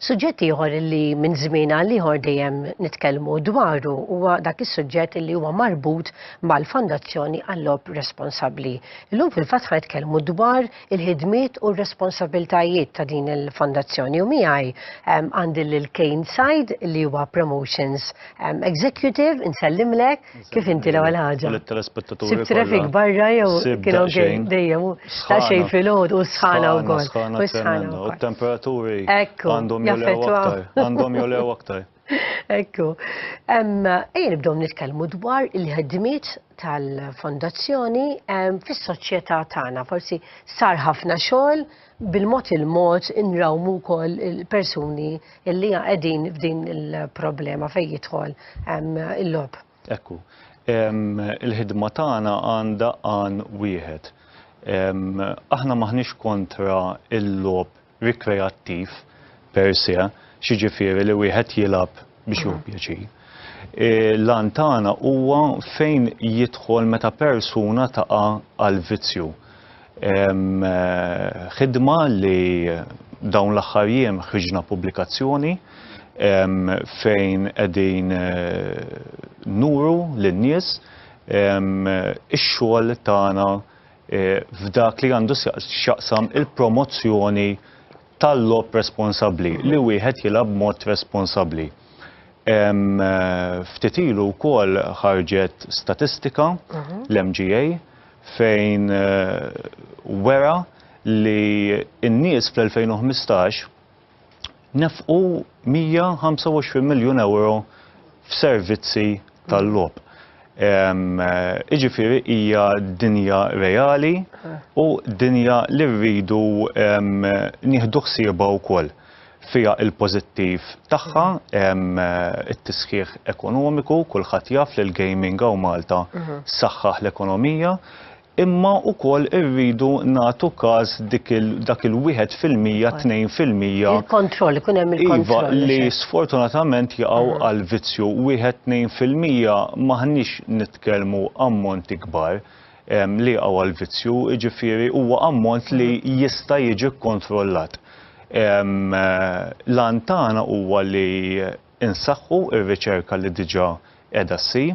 Suġġett ieħor li minn żmien għal ieħor dejjem nitkellmu dwaru huwa dak is-suġġett li huwa marbut mal-Fondazzjoni għall-Lob Responsabbli. Illum fil-fatt ħajtkellmu dwar il-ħidmiet u r-responsabbiltajiet ta' din il-fondazzjoni u miegħi għandi lil Kane Said li huwa Promotions Executive, insellimlek kif inti l-ewwel ħaġa. Sibt traffic barra jew kienu ġejjin dejjem ta' xejn filgħod u sħana wkoll. U temperaturi għandhom jolew aktar. Għandhom jolew aktar. Ekku, ejn nibdew nitkellmu dwar il-ħedmiet tal-fondazzjoni fis-soċjetà tagħna. Forsi sar ħafna xogħol bil-mod il-mod inrawmu wkoll il-persuni li qegħdin f'din il-problema fejn jidħol il-lob. Ekku, il-ħidma tagħna għandha għan wieħed. Aħna maħniex kontra il-lob rikreattiv per se, x'jiġifieri li wieħed jilgħab biex jieħu pjaċir. L-għan tagħna huwa fejn jidħol meta persuna taqa' għal vizzju. Ħidma li dawn l-aħħar jiem ħriġna pubblikazzjoni fejn qegħdin nuru lin-nies ix-xogħol tagħna f'dak li għandu x'jaqsam il-promozzjoni tal-logħob responsabbli, li wieħed jilgħab b'mod responsabbli. Ftit ilu wkoll ħarġet statistika l-MGA fejn wera li n-nies fl-2015 nefqu 125 miljun ewro f'servizzi tal-logħob. Jiġifieri hija dinja reali u dinja li rridu nieħdu ħsiebha wkoll. Fiha l-pożittiv tagħha, it-tisħiħ ekonomiku, kulħadd jaf li l-gaming hawn Malta saħħaħ l-ekonomija, imma wkoll irridu nagħtu każ dik il dak il-wieħed fil-mija, tnejn fil-mija. Il-kontroll, ikun hemm il-kontroll. Iva, li sfortunatament jaqgħu għal vizzju wieħed tnejn fil-mija m'aħniex nitkellmu ammonti kbar li jaqgħu għal vizzju, jiġifieri huwa ammont li jista' jiġi kkontrollat. L-għan tagħna huwa li insaħħu r-riċerka li diġà qiegħda ssir,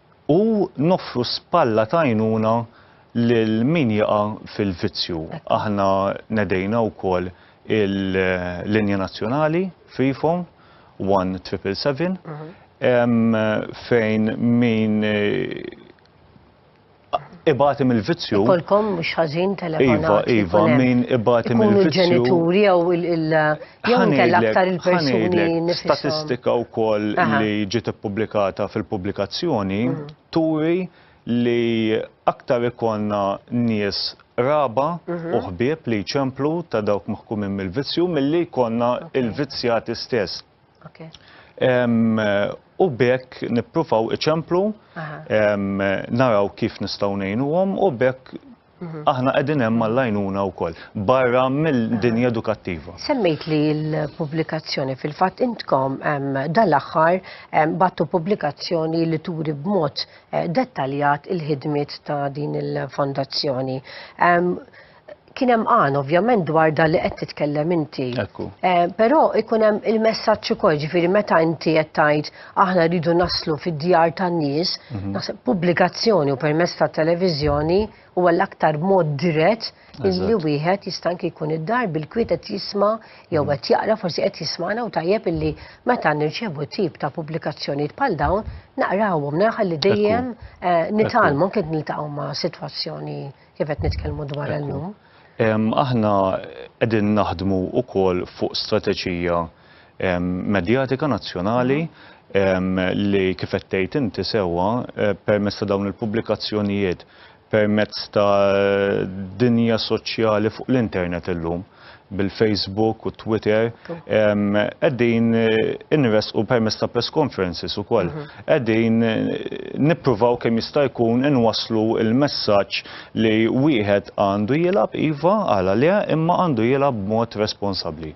u noffru spalla ta' għajnuna lil min jaqa' fil-vizzju. Aħna nedejna wkoll il-linja nazzjonali Freephone 1777 fejn min ibati mill-vizzju. Ikollkom mhux ħażin telefonat. Iva, iva, min ibati mill-vizzju. Ikunu l-ġenituri jew il- Jew inkella aktar il-persuni nifisom. Statistika wkoll li ġiet ippubblikata fil-pubblikazzjoni turi li aktar ikollna nies raba u ħbieb li jċemplu ta' dawk maħkumin mill-vizzju milli jkollna l-vizzjati stess. U bekk nippruvaw iċemplu, naraw kif nistgħu ngħinuhom u bekk Aħna qegħdin hemm għall-għajnuna wkoll, barra mill-dinja edukattiva. Semmejt li l-pubblikazzjoni fil-fatt intkom dal-aħħar battu pubblikazzjoni li turi b'mod eh, dettaljat il-ħidmiet ta' din il-fondazzjoni. Kien hemm għan ovvjament dwar dan li qed titkellem inti. Ekku. Eh, però ikun hemm il-messaġġ ukoll ġifieri meta inti qed tgħid aħna rridu naslu fid-djar tan-nies, mhm. naħseb pubblikazzjoni u permess ta' televiżjoni huwa l-aktar mod dirett illi wieħed jista' anke jkun id-dar bil-kwiet qed jisma' jew mhm. qed jaqra forsi qed jismana u tajjeb illi meta nirċevu tip ta' pubblikazzjonijiet bħal dawn naqrawhom naraħal li dejjem eh, nitalmu kien niltaqgħu ma' sitwazzjoni kif qed nitkellmu dwar illum. Aħna qegħdin naħdmu wkoll fuq strateġija medjatika nazzjonali li kif qed tgħid inti sewwa permezz ta' dawn il-pubblikazzjonijiet, permezz ta' dinja soċjali fuq l-internet illum bil-Facebook u Twitter qegħdin inressqu permezz ta' press conferences ukoll. Qegħdin nippruvaw kemm jista' jkun inwasslu l-messaġġ li wieħed għandu jilgħab iva għala le imma għandu jilgħab b'mod responsabbli.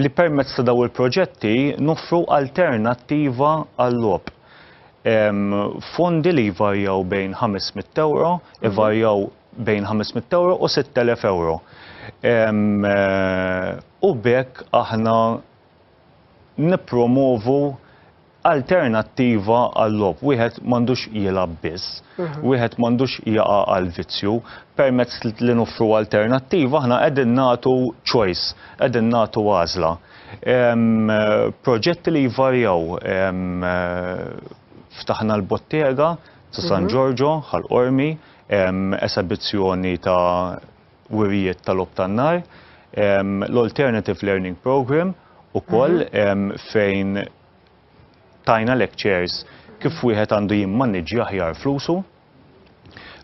li permezz ta' dawn il-proġetti noffru alternattiva għal-logħob. Fondi li jvarjaw bejn €500, ivarjaw bejn €500 u €6,000. U b'hekk aħna nippromovu alternattiva għal-logħob. Wieħed m'għandux jilgħab biss, wieħed m'għandux jaqa' għall-vizzju. Permezz li noffru alternattiva aħna qegħdin nagħtu choice, qegħdin nagħtu għażla. Proġetti li jvarjaw, ftaħna l-bottega ta' San Ġorġo, Ħal Qormi, esebizzjoni ta' wirjiet ta' logħob tan-nar, l-Alternative Learning Programme ukoll fejn tajna lectures kif wieħed għandu jimmaniġġja aħjar flusu.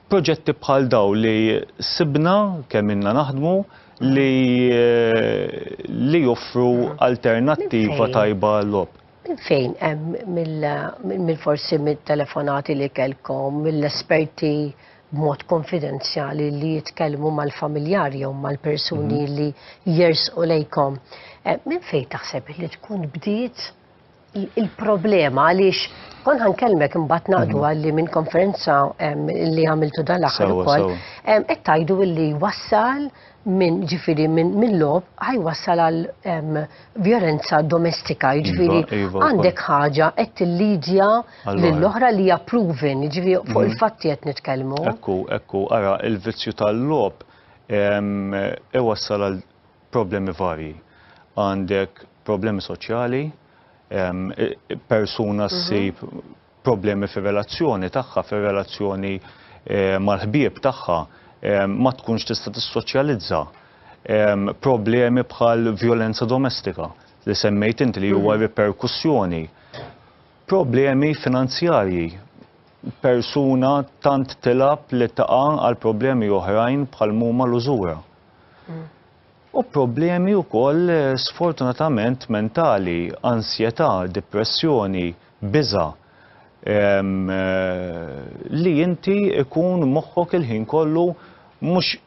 Proġetti bħal daw li sibna kemm inna naħdmu li joffru alternattiva tajba għal-logħob. Minn fejn hemm mill forsi mit-telefonati li kellkom mill-esperti b'mod konfidenzjali li jitkellmu mal-familjar jew mal-persuni mhm. li jersqu lejkom. Eh, minn fejn taħseb li tkun bdiet il-problema għaliex kon ħankellmek imbagħad naqdu mhm. għalli minn konferenza li għamiltu dal-aħħar ukoll qed tgħidu li wassal minn ġifiri minn lob ħajwassal għal violenza domestika, iva, ġifiri iva, għandek ħaġa qed tillidja lill-oħra li hija proven, ġifiri fuq mhm. il-fatti qed nitkellmu. Ekku, ekku, ara il-vizzju tal-lob iwassal għal problemi varji. Għandek problemi soċjali, persuna mhm. ssib problemi fir-relazzjoni tagħha, fir-relazzjoni mal-ħbieb tagħha, ma tkunx tista' tissoċjalizza, problemi bħal vjolenza domestika li semmejt inti li huwa riperkussjoni, problemi finanzjarji, persuna tant tilgħab li taqa' għal problemi oħrajn bħal mhuma l-użura. u problemi wkoll sfortunatament mentali, ansjetà, dipressjoni, biża', li inti jkun moħħok il-ħin kollu mhux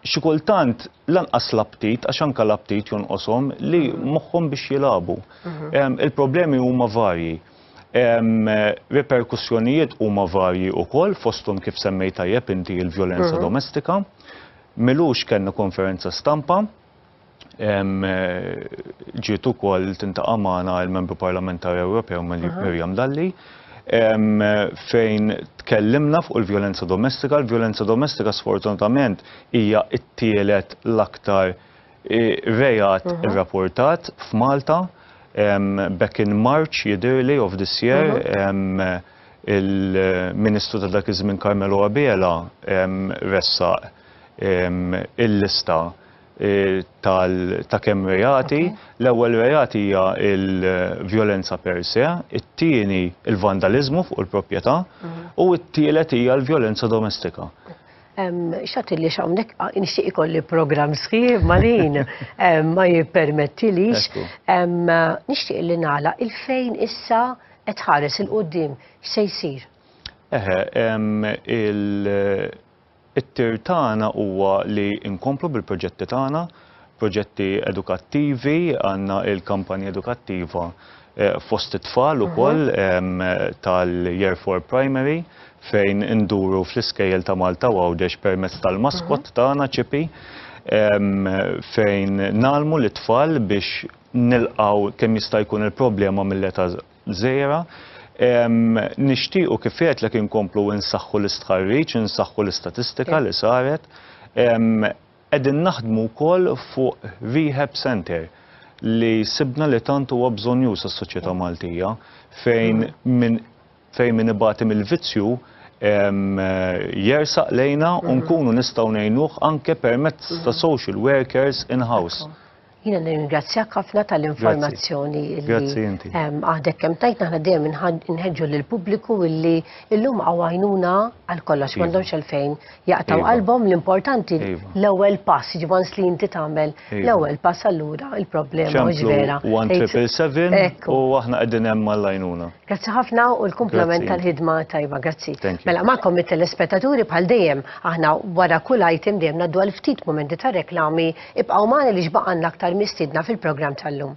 xi kultant lanqas l-aptit, għax anke l-aptit jonqoshom, li moħħhom biex jilagħbu. Il-problemi huma varji. Riperkussjonijiet huma varji wkoll fosthom kif semmejt tajjeb inti l-vjolenza domestika. M'ilux kellna konferenza stampa. Ġiet ukoll tintaqa' magħna l-Membru Parlamentari Ewropew Miriam Dalli fejn tkellimna fuq il-vjolenza domestika. Il-vjolenza domestika sfortunatament hija t-tielet l-aktar reat irrapportat f'Malta back in March jidhirli of this year. Il-Ministru ta' dak iż-żmien Carmelo Abela ressaq il-lista ta' kemm reati. L-ewwel reat hija l-vjolenza per se, it-tieni l-vandaliżmu fuq il-proprjetà u t-tielet hija l-vjolenza domestika. X'għad li hawnhekk nixtieq ikolli programm sħiħ imma l-ħin ma jippermettilix. Nixtieq li nagħlaq il-fejn issa Qed tħares 'il quddiem x'se jsir? Eħe, it-tir tagħna huwa li nkomplu bil-proġetti tagħna, proġetti edukattivi, għandna l-kampanja edukattiva fost it-tfal ukoll tal-Year Four Primary fejn induru fl-iskejjel ta' Malta u Għawdex permezz tal-maskott tagħna ċipi fejn nagħlmu lit-tfal biex nilqgħu kemm jista' jkun il-problema mill-età żgħira. Nixtiequ kif għedtlek inkomplu insaħħu l-istħarriġ, insaħħu l-istatistika li saret. Qegħdin naħdmu wkoll fuq rehab centre li sibna li tant huwa bżonjuż għas-soċjetà Maltija fejn min fejn min ibati mill-vizzju jersaq lejna u nkunu nistgħu ngħinuh anke permezz ta' social workers in-house. Jiena nirringrazzjak ħafna tal-informazzjoni li għadek kemm tajt naħna dejjem inħeġġu lil pubbliku illi illum għawajnuna għal kollox iva. m'għandhomx għalfejn jaqtaw iva. qalbhom l-importanti iva. l-ewwel pass, ġibons li inti tagħmel l-ewwel pass allura il-problema mhux vera. 1777 u aħna qegħdin hemm mal-għajnuna. Grazzi ħafna u l-kumplament tal-ħidma tajba, grazzi. Mela magħkom it-telespettaturi bħal dejjem aħna wara kull item dejjem naddu għal ftit momenti ta' reklami Ibqgħu magħna għaliex baqgħanna aktar mistiedna fil-programm tal-lum.